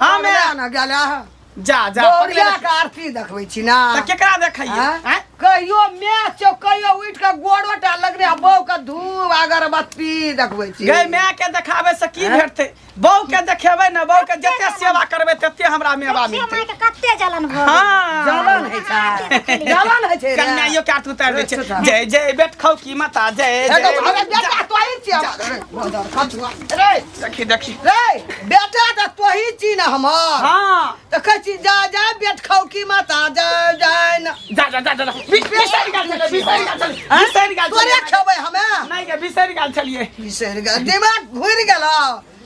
हम हमरा ना- ना गेला है जा जा गौरिया पकड़े के आरती देखबै छी ना त केकरा देखैये आँय? आँय? कहियो मैच चौ कहियो उठ के गोड़ो टा लगने आ बौ के धूप अगरबत्ती देखबै छी गै माय के देखाबे से की आँय? भेटते बहू के देखेबै ने बहू के जते सेवा करबै तते हमरा मेवा देखिए मिलतै माय के कते जलन भऽ गेल। हाँ जलन है छै जलन है छै रे। कन्याइयो के हाथ उतार दै छै अच्छा। जय जय बेट खौ की माता जय ए, जय तो हमरा बेटा तोही छियै। जा। रे सखी देखी रे बेटा तऽ तोही छी ने हमर हाँ तऽ कहै छी जा जा बेट खाउ की माता जा जा न जा जा जा जा जा। बि- बिसरि गेल छलियै, बिसरि गेल छलियै, हैं? बिसरि गेल तोरे छलियै। खेबै हमे नहि गे बिसरि गेल छलियै बिसरि गेल दिमाग घुरि गेल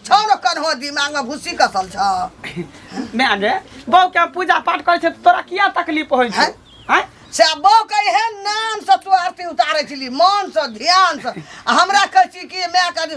छौ ने कन्हो दिमागमे भूसी कसल छौ माय गे बहू के हम पूजा पाठ करै छै तऽ तोरा किया तकलीफ होइ छै हैं? हैं? से बौ कहे है नाम से तू आरती उतारे छली मन से ध्यान से आ हमरा कहै छी कि माय के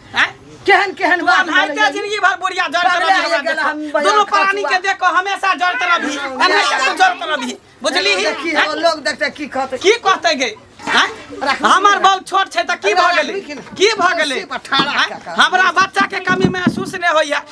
हैं? केहन केहन तू बात अनहाइते भेलै? जिंदगी भर बुढ़िया जड़ बाप रे, तरबी हमरा आइ गेल, हम देखो। बजाज दुनू खा प्राणी के चुका। देखो हमेशा जड़ तरबी अनहाइते से जड़ तरबी बुझली ही देखी, हैं? लोग देखते की कहते की कहते गे हैं? राखू, हमर राखू। बल छोट छै त की अरे, भऽ राखू गेलै कि ने? की भऽ गेलै कुर्सी पर ठाढ़ा हैं? कऽ कऽ। हमरा बच्चा के कमी महसूस नहि होइया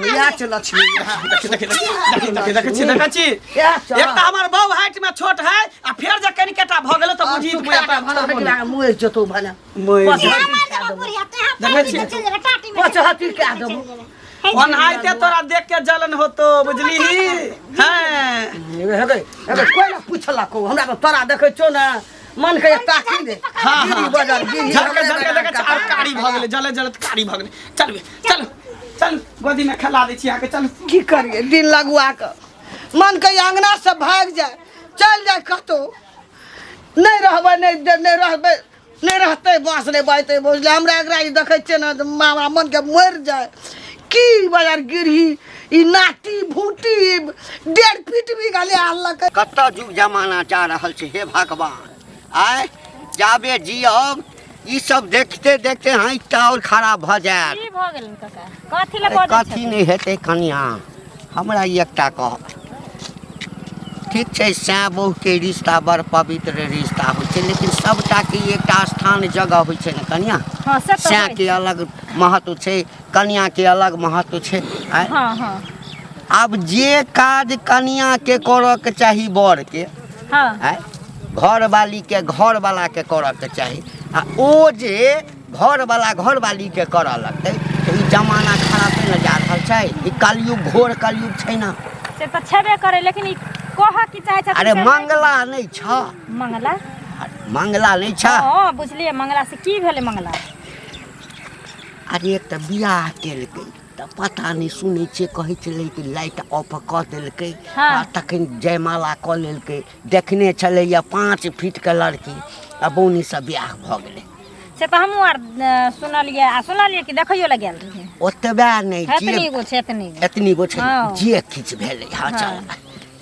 इएह छै लक्ष्मी देखी देखी देखी देखी देखी छी देखै छी इएह छै एक तऽ हमर बहू हाइट में छोट है आ फेर जे कनि कटा भऽ गेलै तऽ बुझी तू मुया पर भला भला मुँह जतौ भला मोय देखै छी पचहत्ती कए देबो ओनाहिते तोरा देख के जलन होतो बुझली हैं हेगे हेगे कोई ना पूछलक हमरा तो तोरा देखै छौ ने मन के ताकी दे हाँ, हाँ। गिरी बजर गिरी झटका झटका देखा चार कारी भऽ गेलै जले जले तऽ कारी भऽ गेलै चल बे चल चल गोदी में खेला दै छी अहाँके चल की करिए दिन लगुआ के मन के अंगना से भाग जाए चल जाए कतो नहीं रहबै नहीं दे- नहीं रहबै नहीं रहते बाँस नहीं बाजते बुझले हमरा एकरा ई देखै छियै ने तऽ हमरा मन के मरि जाए की बजार गिरही ई नाटी भूटी डेढ़ फीट भी गले आलक कत जुग जमाना जा रहल छै हे भगवान आय जाबे जियब ई सब देखते देखते हाथ तऽ आओर खराब भऽ जायत की भऽ गेल कका कथी लए बजै कथी छथिन? नहि हेतै कनिया हमरा ई एकटा कह ठीक छै सैँ बहुके रिश्ता बड़ पवित्र रिश्ता होइ छै लेकिन सभटाके एकटा स्थान जगह होइ छै ने कनिया हाँ, से तऽ सैँ होइ। के अलग महत्व छै कनिया के अलग महत्व छै आय हँ हँ आब जे काज कनिया के करऽ के चाही बर के हँ आय घर वाली के घर वाला के करऽ के चाही आ ओ जे घर वाला घर वाली के करऽ लगतै तऽ ई जमाना खरापे ने जा रहल छै ई कलयुग घोर कलयुग छै ने से तऽ छेबे करे लेकिन ई कहऽ की चाहे छथिन अरे से नहि- मंगला नहि छ मंगला मंगला नहि छ हँ बुझलियै मंगला से की भेलै मंगला अरे तऽ बियाह केलकै तऽ पता नहि सुनै छियै कहै छलै कि लाइट ऑफ कऽ देलकै हँ आ तखन जयमाला कऽ लेलकै देखने छलैया पाँच फीट के लड़की आ बौनी से बियाह भऽ गेलै से तऽ हमहूँ आर अ, सुनलियै आ सुनलियै कि देखैयो लए गेल रहियै ओतबे नहि एतनी जे गो छै एतनी गो एतनी गो छै हँ। जे किछु भेलै हँ चल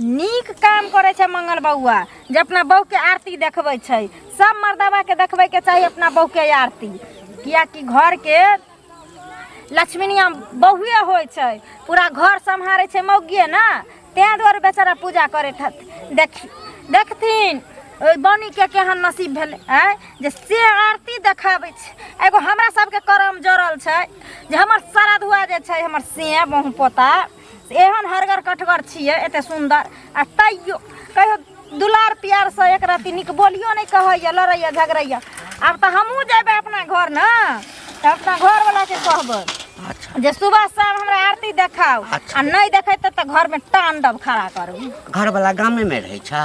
नीक काम करे छे मंगल बउआ जे अपना बहू के आरती देखबे छे सब मर्दवा के देखबे के चाहिए अपना बहू के आरती किया कि घर के लक्ष्मीनिया बहुए हो छे पूरा घर संहारे छे मौगिए ना ते द्वारे बेचारा पूजा करे देख देखथिन बनी के केहन नसीब भेल है जे से आरती देखाबे छे एगो हमरा सबके करम जरल छे जे हमर श्राद्ध हुआ जे छे हमर से बहु पोता एहन हरगर कठगर छियै एते सुन्दर आ तैयो कहियो दुलार प्यारसँ एक रत्ती नीक बोलियो नहि कहैए लड़ैए झगड़ैए आब तऽ हमहूँ जेबै अपना घर ने तऽ अपना घरवलाके कहबै अच्छा जे सुबह शाम हमरा आरती देखाउ अच्छा। आ नहि देखेतै तऽ घरमे तांडव खड़ा करू घर वाला गामे में रहे छा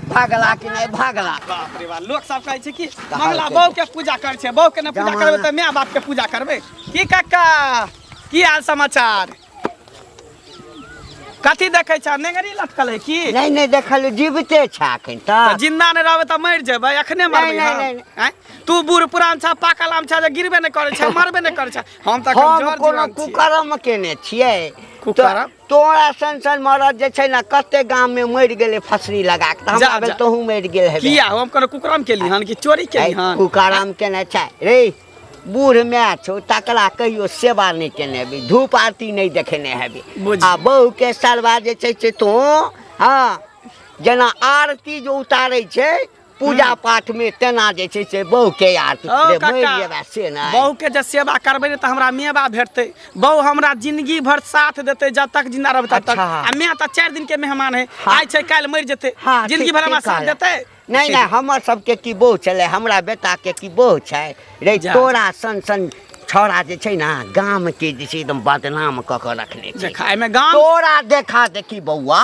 भागला कि नहीं भागला बाप रे बाप लोग सब कहै छै कि मंगला बहू के पूजा करै छै बहू के ने पूजा करबै तऽ माय बाप के पूजा करबै की काका की हाल समाचार कथी देखै छ नेंगरी लटकल है की नहीं नहीं देखल जीविते छा अखन तऽ तक जिन्दा नहि रहबै तऽ मरि जेबै अखने मरबै नहि, हम। नहि, नहि। आँय? तू बूढ़ पुरान छ पाकल आम छ जे गिरबे नहि करै छ मरबे नहि करै छ हम तऽ एखन हम जर कोनो जीवन छी। कुकर्म केने छियै कुकर्म? तऽ- तोरा सन सन मरद जे छै ने कते गाम में मर गेले फसरी लगा के हमरा भेल तोहू मर गेल है किया हम कोनो कुकराम के लिहन कि चोरी के लिहन कुकराम के ना छै रे बूढ़ मै छो तकरा कहियो सेवा नहीं केने भी धूप आरती नहीं देखेने है आ बहू के सरवा जे छै से तो हाँ जना आरती जो उतारे छै पूजा पाठ में तेना जे छै से बहू के याद ओ, रे, काका। मरि जेबा से नहि बहू के जे सेवा करबै ने तऽ हमरा मेवा भेटतै बहू हमरा जिंदगी भर साथ देतै जब तक जिंदा रहबै तब तक अच्छा। आ मैं तऽ चारि दिन के मेहमान है हाँ। आइ छै काल्हि मरि जेतै हाँ, जिंदगी ठीक- भर हमरा ठीक साथ कहलक। देतै नहि नहि हमर सबके की बहू छलै हमरा बेटा के की बहू छै रे जा। तोरा सन सन छौड़ा जे छै ने गाम के जे छै एकदम बदनाम कऽ के रखने छै देखा एहिमे गाम तोरा देखा देखी बौआ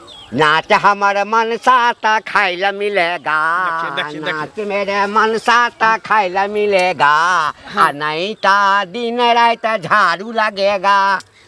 नाच हमर मनसा त खाए ला मिलेगा दक्षिण, दक्षिण, दक्षिण। नाच मेरे मनसा त खाए ला मिलेगा आ नहीं ता दिन रात झाड़ू लगेगा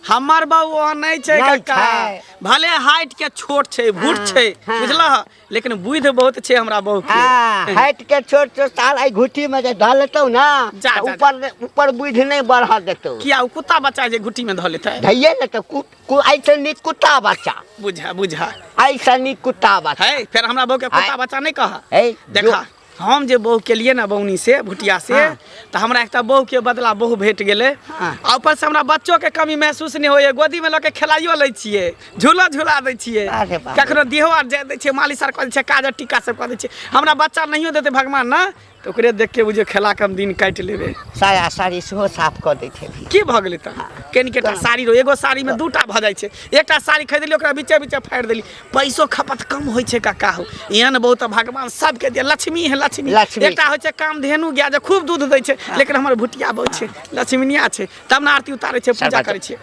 हमर बाबू वहाँ नहीं छै नहीं कक्का छै। भले हाइट के छोट छै भूट हाँ, छै हाँ। बुझलह लेकिन बुद्धि बहुत छै हमरा बाबू के हाँ, हट के छोट छोट साल आई घुटी में जे धऽ लेतौ ना जा, तऽ जा, ऊपर ऊपर बुझि नहीं बढ़ऽ देतौ किया ओ कुत्ता बच्चा जे घुट्टी में धऽ लेतै धैये लेतौ कूट कु- ऐसन नी कुत्ता बच्चा बुझा बुझा ऐसन नी कुत्ता बच्चा है फिर हमरा बहू के कुत्ता आय। बच्चा नहीं कहा है देखा हम जे बहू के लिए ना बौनी से भुटिया से हाँ। तो हमरा एकटा बहू के बदला बहू भेट गेले हाँ। आ ऊपर से हमरा बच्चो के कमी महसूस नहीं होइए गोदी में लऽ के खेलाइयो लै छियै झूला झूला दै छियै अरे बाप रे। कखनो देहो आर जाय दै छियै मालिश आर कऽ दै छियै काज आर टीका सब कऽ दै छियै हमरा बच्चा नहियो देतै भगवान ने तऽ ओकरे देख के बुझियो खेला के हम दिन काटि लेबे साया साड़ी सेहो साफ कऽ दैत हेबही की भऽ गेलै तऽ कनि केटा साड़ी रो एगो साड़ी में दूटा भऽ जाइ छै एकटा साड़ी खरीदली ओकरा बीचे बीचे फाड़ि देली पैसो खपत कम होइ छै काका हो एहन बहुत भगवान सबके दे लक्ष्मी है लक्ष्मी लक्ष्मी। एकटा होइ छै काम धेनु गाय जे खूब दूध दै छै लेकिन हमर भुटिया बहुत छै लक्ष्मीनिया छै तब ने आरती उतारै छै पूजा करै छै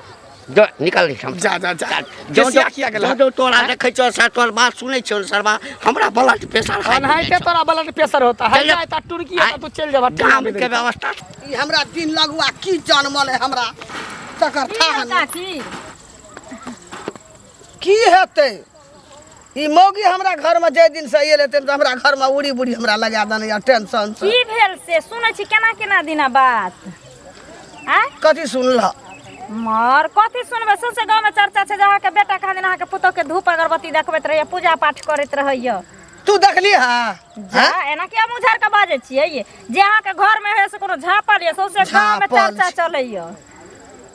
जो निकल हम जा जा जा जो जो केसिया किया गेला जो जो तोरा देखै छौ सर तोर बात सुनै छौ सरबा हमरा ब्लड प्रेशर हाई अनहाइते तोरा ब्लड प्रेशर होता है चल जा। जाता टुर्की है तो चल जाबा काम के व्यवस्था ई हमरा दिन लगुआ की जनमल है हमरा तकर की थाह हेता नहि की की हेतै ई मौगी हमरा घर में जे दिन से आयल हेतै तऽ हमरा घर में उड़ी बुड़ी हमरा लगा देने या टेंशन से की भेल से सुनै छी केना केना दिना बात आ कथी सुनलह मर कथी सुनबै सौंसे गाँवमे चर्चा छै जे अहाँके बेटा कहाँ दिन अहाँके पुतोहके धूप अगरबत्ती देखबैत रहैए पूजा पाठ करैत रहैए तू देखली हा जा एना किया मुँह झाड़ कऽ बाजै छियै ये जे अहाँके घरमे होइए से कोनो झाँपल यए सौंसे गाँवमे झाँपल चर्चा छै। चलैए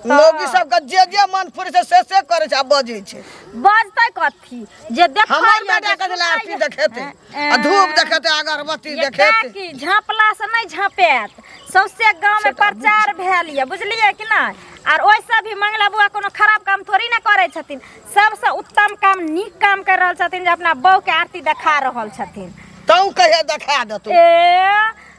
लोगी सबके जे जे मन फुरे छै से से करे छै आ बजे छै बजतै कथी जे देख हमर बेटा के जेला आरती देखेते आ धूप देखेते अगरबत्ती देखेते की झापला से नहीं झापेत सौसे गांव में प्रचार भेल ये बुझलिए कि ना आर ओइ से भी मंगला बुआ कोनो खराब काम थोड़ी ना करे छथिन सबसे उत्तम काम नीक काम कर रहल छथिन जे अपना बहू के आरती देखा रहल छथिन तू कहे देखा देतू ए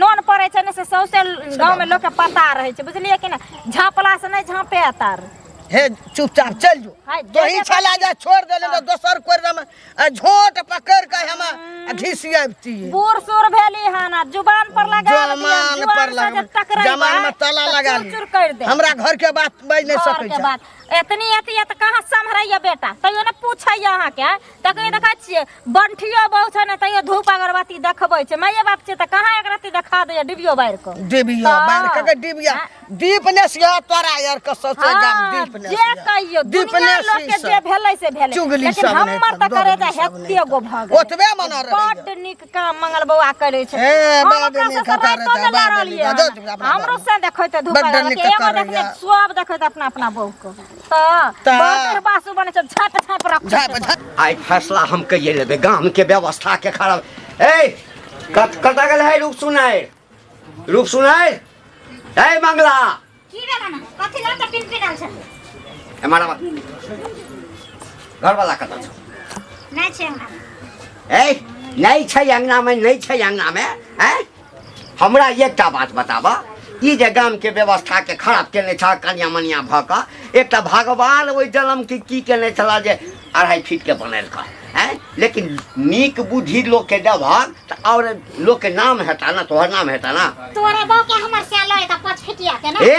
नोन पड़ै छै ने से सौंसे गाँवमे लोकके पता रहै छै बुझलियै कि ने झाँपलासँ नहि झाँपे तार हे चुपचाप चल जो हाय, तो ही देने छला जा छोड़ देले तो दोसर कोर में आ झोट पकड़ के हम आ घिसियाबती बूढ़ सूर भेली हन आ जुबान पर लगा लेली हन, जमान जुआन पर से लगा जे टकराइबा, जमान में ताला तऽ लगा चूर-चूर कर दे हमरा घर के बात बज नहीं घर सकै के छै बात एतनी अथी है तऽ कहाँ सम्हरैया बेटा तैयो ने पूछैया अहाँके तखन देखै छियै बंठियो बहु छै ने तैयो धूप अगरबत्ती देखबै छै माये बाप छै तऽ कहाँ एक रत्ती देखा दैया डिबियो बारि कऽ डिबिया हँ। बार के के डिबिया दीप ने सिया तोरा यार के ससे गाम हाँ, दीप ने जे कहियो दीप दुनिया ने लोग के जे भेलै से भेलै चुगली लेकिन सब नहि हमर तऽ करू, करे तऽ सब नहि हेते गो भऽ गेल ओतबे मना रहैया। बड्ड नीक काम मंगल बौआ करै छै हे, हम बड्ड ओकरा नीक सबसँ करै राइतो छै, ने बड्ड लड़लियै नीक, हन। दस टा अपना हमरो से देखै तऽ धूप बड्ड अगरबत्ती नीक एगो करै देखने छै। सब देखै तऽ अपना अपना बहू के बर्तन बासु बने छै झाप झाप रख झाप झाप आइ फैसला हम कहिए लेबै गाम के व्यवस्था के खराब ए कत कत गेल है रूप सुनाय रूप सुनाय ए मंगला की भेला ना कथि ला त पिन पिनाल छै ए मारा घर वाला कत छै नै छै हमरा ए नै छै अंगना में नै छै अंगना में ए हमरा एकटा बात बताबऽ ई जे गामके व्यवस्थाके खराब केने छह कनिया मनिया भऽ कऽ एकटा भगवान ओहि जन्मके की केने छला जे अढ़ाई फीटके बनेलका है लेकिन नीक बुद्धि लोकके देबहक तऽ आओर लोकके नाम हेता ने तोहर नाम हेता ने तोरा बाप के हमर से लय त पाँच फिटिया के ना ए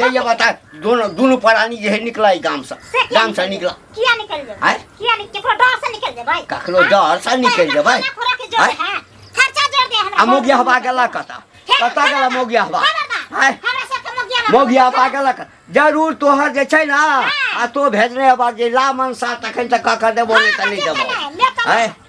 जइया बता दोनों दोनों प्राणी जे है निकला ई गांव से से किया गांव से निकल- निकला किया निकल जेबै आँय? किया निकल केकरो डर से निकल जेबै कखनो डर से निकल जेबै खाना खुराक जोड़ आँय? है खर्चा जोड़ दे हमरा आ मोगिया हवा गेला कता कता गेला मोगिया हवा आय हमरा से के मोगिया हवा मोगिया हवा गेला कता जरूर तोहर जे छै ना आ तो भेजने हवा जे ला मनसा तखन तक ककर देबो नहि त नहि देबो आय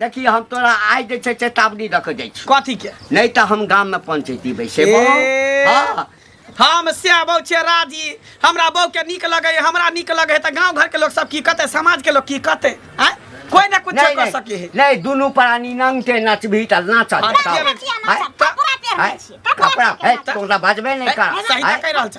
देखी हम तोरा आइ जे छै चेतावनी दऽ कऽ जाइ छी कथी के नहि तऽ हम गाममे पंचैती बैसेबो ए। हँ हम से बहू छियै राजी हमरा बहू के नीक लगे हमरा नीक लगे तऽ गांव घर के लोग सब की कहते समाज के लोग की कहते आय कोई ना कुछ नहीं, कर नहीं, सके है नहीं दुनू प्राणी नंगटे नचबही तऽ नाचत हाँ, बताओ। ठीक है। कपड़ा है, है, तोरा बाजबे नहीं कर सही है, तऽ कहि रहल छ